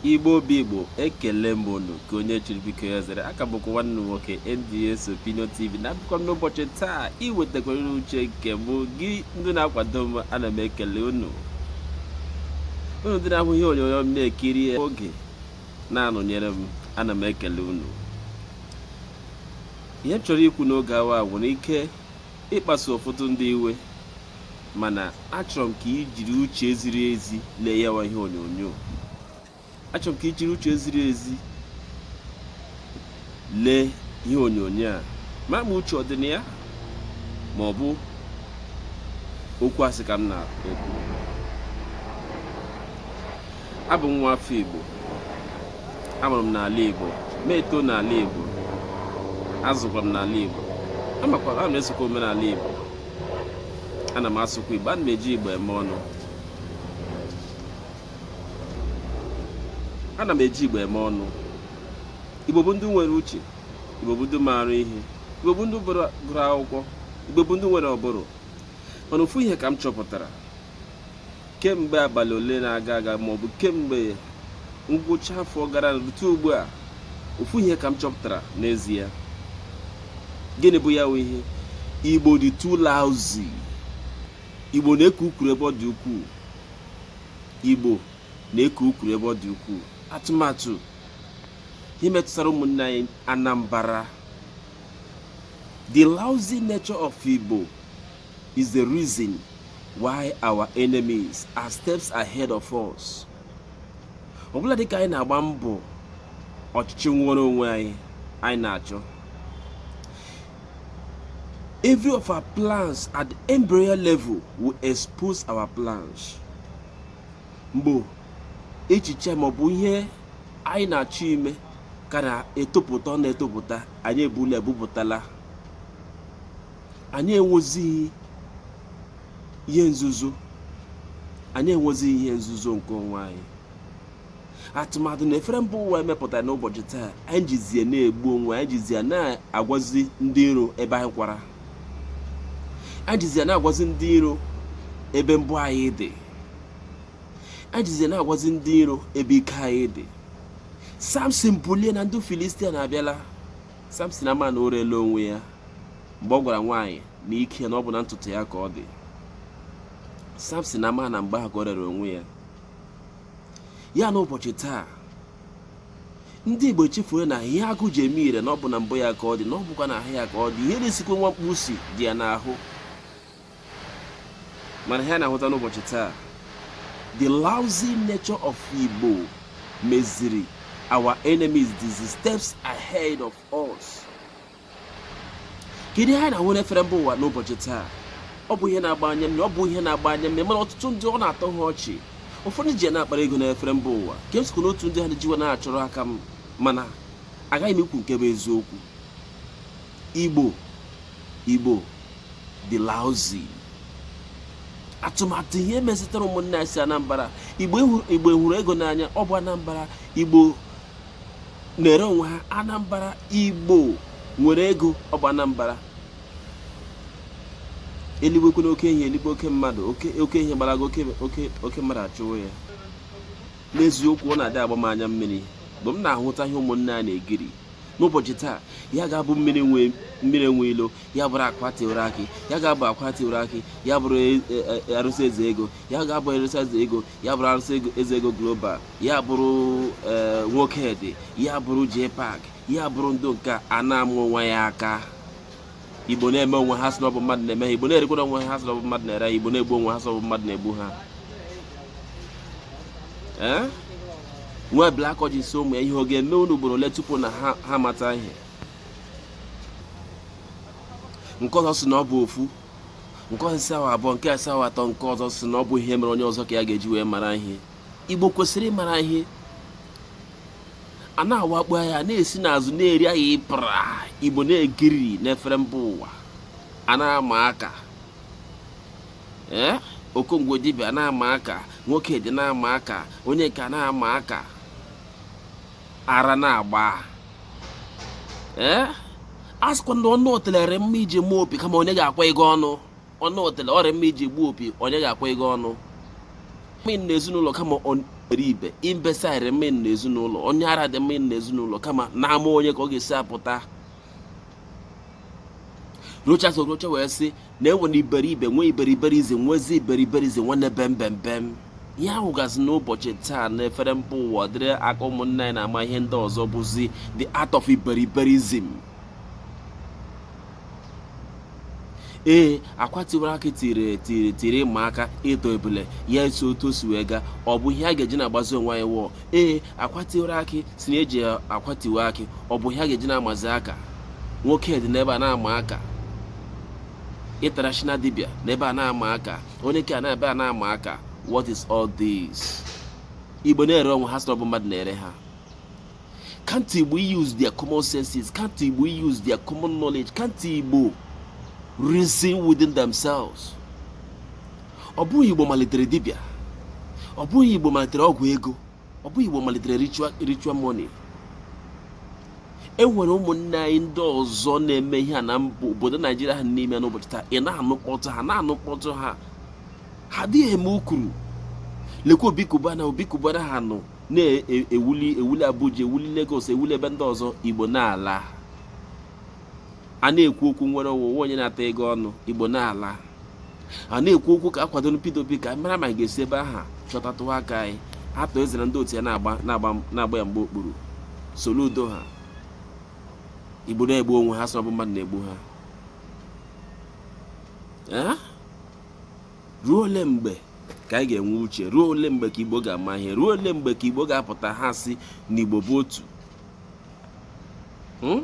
igbo bụ igbo ekele m unu ka onye chiri biko ya zere aka bụkwa nwanne nwoke NDS Opinion TV na abịakwa m n'ụbọchị taa iwetakwara unu uche nke mụ gị ndị na-akwado m ana m ekele unu unu ndị na-ahụ ihe onyonyo m na-ekiri oge na-anọnyere m ana m ekele unu ihe m chọrọ ikwu n'oge awa nwere ike ịkpasu ụfọdụ ndị iwe mana achọrọ m ka i jiri uche ziri ezi lee yawa ihe onyonyo achọrọ m ka i jiri uche ziri ezi lee ihe onyonyo a ma ma uche ọ dị na ya ma ọ bụ okwu asị ka m na-ekwu abụ m nwa afọ Igbo amụrụ m n'ala Igbo ma eto n'ala Igbo azụkwa m n'ala Igbo amakwara ana m esokwa omenala Igbo ana m asụkwa igbo ana m eji igbo eme ọnụ ana m eji igbo eme ọnụ igbo bụ ndị nwere uche igbo bụ ndị maara ihe igbo bụ ndị gụrụ akwụkwọ igbo bụ ndị nwere ụbụrụ mana ofu ihe ka m chọpụtara kemgbe abalị ole na-aga aga ma ọ bụ kemgbe ngwụcha afọ gara rute ugbu a ofu ihe ka m chọpụtara n'ezie gịnị bụ ya ihe igbo dị too lousy igbo na-ekwu okwu ebe ọ dị ukwuu igbo na-ekwu okwu ebe ọ dị ukwuu atụmatụ ihe metụtara ụmụnne anyị anambara the lousy nature of igbo is the reason why our enemies are steps ahead of us ugbula dịka anyị na-agba mbọ ọchịchị nnwere onwe anyị anyị na-achọ every of our plans at the embryo level we'll expose our plans mgbe echiche maọbụ ihe anyị na-achọ ime ka na-etopụta ọ na-etopụta anyị ebula ebupụtala anyị enwezighị ihe nzuzo anyị enwezighị ihe nzuzo nke onwe anyị atụmatụ na efere mba ụwa emepụtara n'ụbọchị taa anyị jizie na-egbu onwe anyị jizie na-agwazi ndị iro ebe anyị kwara anyị jizie na-agwazi ndị iro ebe mbọ anyị dị anyị jizie na-agwazi ndị iro ebe ike anyị dị samson bilie na ndị filistia abịala Samson ama na o reela onwe ya mgbe ọ gwara nwaanyị na ike ya na ọ bụ na ntutu ya ka ọ dị Samson ama na mgbe ahụ ka o rere onwe ya ya na ụbọchị taa ndị Igbo chefuru na ihe agụ ji eme ire na ọ bụ na mbọ ya ka ọ dị na ọ bụkwa na ahụ ya ka ọ dị ihe na-esikwa nwa mkpi isi dị ya n'ahụ mana ihe a na-ahụta n'ụbọchị taa the lousy nature of Igbo meziri our enemies these steps ahead of us kedu ihe anyị na-ahụ n'efere mba ụwa n'ụbọchị taa ọ bụ ihe na-agba anya mmiri ọ bụ ihe na-agba anya mmiri mana ọtụtụ ndị ọ na-atọ ha ọchị ụfọdụ ji ya na-akpara ego n'efere mba ụwa ka m sokwa n'otu ndị ha na-ejiwa na-achọrọ aka m mana agaghị m ikwu nke bụ eziokwu Igbo Igbo dị lousy atụmatụ ihe metụtara ụmụnne anyị si Anambra Igbo hụrụ ego n'anya ọ bụ Anambra Igbo na-ere onwe ha Anambra Igbo nwere ego ọ bụ Anambra eluigwe kwe na oke ehi eluigwe oke mmadụ oke ehi gbarago oke mmadụ achụwo ya n'eziokwu ọ na-adị agba m anya mmiri mgbe m na-ahụta ihe ụmụnne anyị na-egiri n'ụbọchị taa ya ga-abụ mmiri nwe mmiri enwe ilo ya bụrụ akwa tiwere akị ya ga-abụ akwa tiwere akị ya bụrụ e, e, e, arụsị eze ego ya ga-abụ arụsị eze ego ya bụrụ arụsị eze ego global ya bụrụ nwoke dị ya bụrụ j-park ya bụrụ ndị nke a na-ama onwe ya aka igbo na-eme onwe ha sị na ọ bụ mmadụ na-eme ha igbo na-erekwa onwe ha sị na ọ bụ mmadụ na-ere ha igbo na-egbu onwe ha sị na ọ bụ mmadụ na-egbu ha ee nwa black oji sị ụmụ ya ihe ọ ga-eme unu ugboro ole tupu na ha amata ihe nke ọzọ sị na ọ bụ ofu nke ọzọ sị ọ bụ abụọ nke a sị ọ bụ atọ nke ọzọ sị na ọ bụ ihe mere onye ọzọ ka ya ga-eji wee mara ihe igbo kwesiri ịmara ihe a na-awakpo ya na-esi n'azụ na-eri ya ịpara igbo na-egiri n'efere mba ụwa a na-ama aka ee eh? okongwu dibịa na-ama aka nwoke dị na-ama aka onye nke a na-ama aka ara na-agba ee eh? a sịkwa na ọnụ otele dị mma iji gbuo opi kama onye ga-akwaga ọnụ ọnụ otele ọ dị mma iji gbuo opi onye ga-akwaga ọnụ mma na ezinụlọ kama onye iberibe imbecile dị mma na ezinụlọ onye ara dị mma na ezinụlọ kama n'ama onye ka ọ ga-esi apụta rochas okorocha wee sị na enwere iberibe nwee iberiberism nwezi iberiberism nwanne bembembem ihe a hụgazi n'ụbọchị taa na efere mba ụwa ụdịrị aka ụmụnne anyị na-ama ihe ndị ọzọ bụzi the art of iberiberism ee akwa tiwara akị tiri tiri tiri ịma aka ịtọ ebule ya eso otu o si wee gaa ọ bụ ihe a ga-eji na-agbazi onwe anyị wụọ ee akwa tiwara akị sị na e ji akwa tiwe akị ọ bụ ihe a ga-eji na-amazi aka nwoke dị n'ebe a na-ama aka international dibịa n'ebe a na-ama aka onye nke a n'ebe a na-ama aka what is all this igbo na-ere onwe ha sị na ọ bụ mmadụ na-ere ha Can't Igbo use their common senses? Can't Igbo use their common knowledge? Can't Igbo reason within themselves? Ọ bụghị Igbo malitere dibịa, ọ bụghị Igbo malitere ọgwụ ego, ọ bụghị Igbo malitere ritual money. E nwere ụmụnne anyị ndị ọzọ na-eme ihe a na obodo Naijiria ha n'ime n'ụbọchị taa ị na-anụ mkpọtụ ha na-anụ mkpọtụ ha ha adịghị eme ukuru lekwa Obi Cubana Obi Cubana ha nọ na-ewuli ewuli Abuja ewuli Lagos ewuli ebe ndị ọzọ Igbo na-ala a na-ekwu okwu nnwere onwe o nwe onye na-ata ego ọnụ Igbo na-ala a na-ekwu okwu ka a kwadoro Peter Obi ka a mara ma a ga-esi ebe aha chọtatụ aka anyị atọ ezere ndị otu ya na-agba ya mgba okpuru Soludo ha Igbo na-egbu onwe ha sị ọ bụ mmadụ na-egbu ha ruo ole mgbe ka anyị ga-enwe uche ruo ole mgbe ka igbo ga-ama ihe ruo ole mgbe ka igbo ga-apụta ha sị na igbo bụ otu hmm?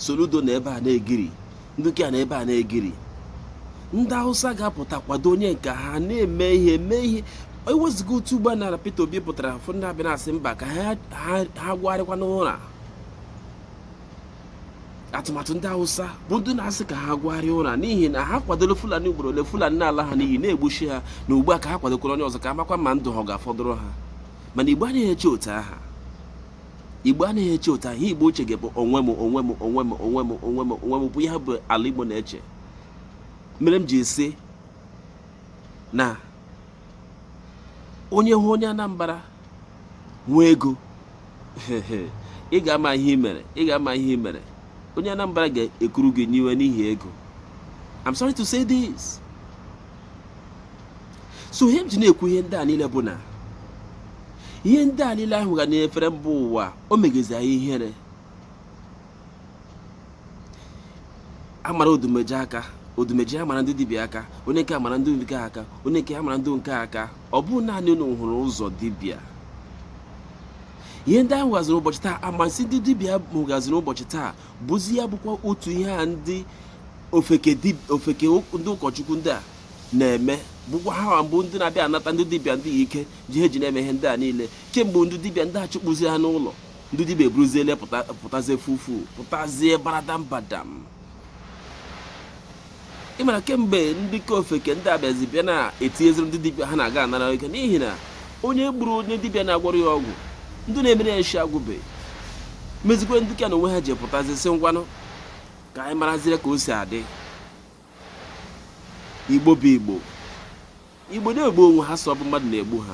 Soludo nọ ebe a na-egiri ndị ke a nọ ebe a na-egiri ndị hausa ga-apụta kwado onye nke ha na-eme ihe mee ihe ewezuga otu ugbu a na Peter Obi pụtara ụfọdụ ndị abịa na-asị mba ka ha gwagharịkwa n'ụra atụmatụ ndị Hausa bụ ndị na-asị ka ha gwagharịa ụra n'ihi na ha kwadoro Fulani ugboro ole Fulani na-ala ha n'iyi na-egbushi ha na ugbu a ka ha kwadokwara onye ọzọ ka a makwa ma ndụ ha ga-afọdụrụ ha mana Igbo anaghị eche otu aha Igbo anaghị eche otu aha Igbo uche ga-abụ onwe m onwe m onwe m onwe m onwe m onwe m bụ ihe bụ ala Igbo na-eche mere m ji sị na onye hụ onye Anambra nwee ego ị ga-ama ihe i mere ị ga-ama ihe i mere onye Anambra ga-ekuru gị n'iwe n'ihi ego I'm sorry to say this so ihe m ji na-ekwu ihe ndị a niile bụ na ihe ndị a niile ahụ ga na-efere mba ụwa o megezi anyị ihere a mara Odumeje aka Odumeje amara ndị dibịa aka onye nke a amara ndị nke a aka onye nke a amara ndị nke a aka ọ bụ naanị unu hụrụ ụzọ dibịa ihe ndị a hụgaziri ụbọchị taa amasị ndị dibịa m hụgaziri ụbọchị taa bụzi ya bụkwa otu ihe a ndị ofeke ndị ụkọchukwu ndị a na-eme bụkwa ha bụ ndị na-abịa anata ndị dibịa ndị ike ji ha ji na-eme ihe ndị a niile kemgbe ndị dibịa ndị a chụkpụzi ha n'ụlọ ndị dibịa eburuzie ele pụtazie fufu pụtazie baradam badam ị mara kemgbe ndị ka ofeke ndị a bịazi bịa na-etinyeziri ndị dibịa ha na-aga anara ike n'ihi na onye gburu onye dibịa na-agwọrọ ya ọgwụ ndị na-emere ya nshi agwụbe mezikwa ndị ka na onwe ha ji pụtazi sị ngwanụ ka anyị marazire ka o si adị igbo bụ igbo igbo na-egbu onwe ha sị ọ bụ mmadụ na-egbu ha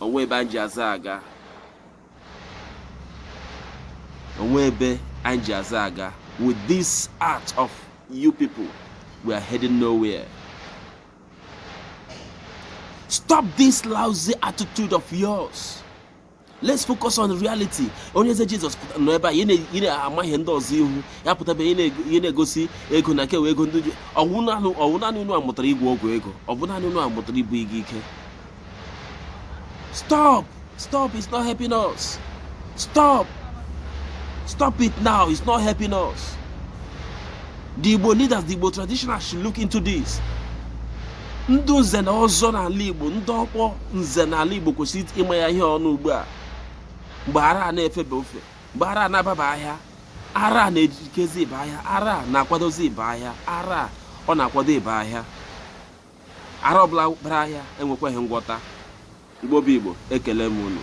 o nwe ebe anyị ji azụ aga o nwe ebe anyị ji azụ aga with this act of you people we are heading nowhere stop this lousy attitude of yours let's focus on reality Onyeze Jesus nọ ebe a ị na-eme ihe ndị ọzọ ị hụ ya pụtaba ihe na-egosi ego na-ekewa ego ndị ọ wụ naanị unu a mụtara ịgwọ ọgwụ ego ọ bụ naanị unu a mụtara ibu ego ike Stop! Stop! It's not helping us. Stop! Stop it now. It's not helping us. The Igbo leaders, the Igbo traditional should look into this. Ndị nze na ọzọ n'ala Igbo, ndị okpu nze n'ala Igbo kwesịrị ịma ya ihe ọnụ ugbu a. Mgbe ara a na-efebe ofe, mgbe ara a na-ababa ahịa, ara a na-ejikezi ịba ahịa, ara a na-akwadozi ịba ahịa, ara a ọ na-akwado ịba ahịa. ara ọbụla bara ahịa enwekwaghị ngwọta Igbo bụ Igbo ekele m unu